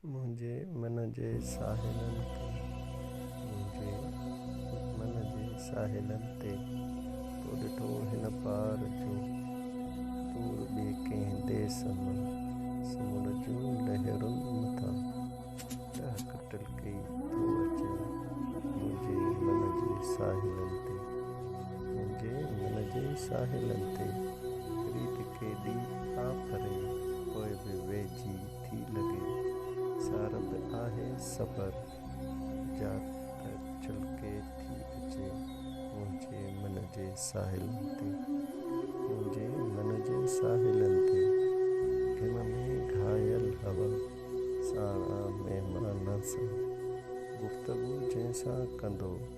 منهنجي من جي ساحلن تي منهنجي من جي ساحلن تي تو ڏٺو هن پار جو تور ٻي ڪنهن ديس مان سمنڊ جون لهرون مٿان ٽهڪ ٽلڪي ٿو اچي منهنجي من جي ساحلن تي منهنجي من جي ساحلن تي ريت ڪيڏي آڦري پوء به ويجهي ٿي لڳي سارب آهي صبر جا ته ڇلڪي ٿي اچي منهنجي من جي ساحلن تي منهنجي من جي ساحلن تي گهم ۾ گهايل هوا ساڻا مهمان سان گفتگو جنهن سان ڪندو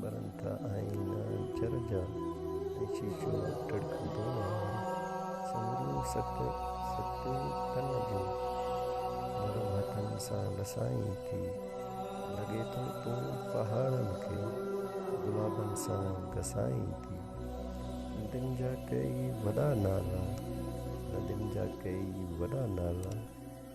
ٻرن ٿا آئينا جر جا ۽ شيشو ٽڙڪندو آهي سموريون ست ستيون تن جون نرم هٿن سان لسائين ٿي لڳي ٿو تون پهاڙن کي گلابن سان گسائين ٿي ندين جا ڪيئي وڏا نالا ندين جا ڪيئي وڏا نالا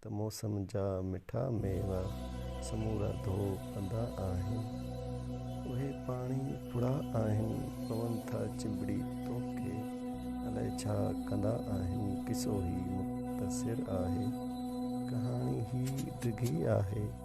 ته موسم جا مٺا ميوا سمورا ڌو پندا آهن. اهي پاڻي ڦڙا آهن، پون ٿا چنبڙي توکي. الائي ڇا ڪندا آهن. قصو هي مختصر آهي. ڪهاڻي هي ڊگهي آهي.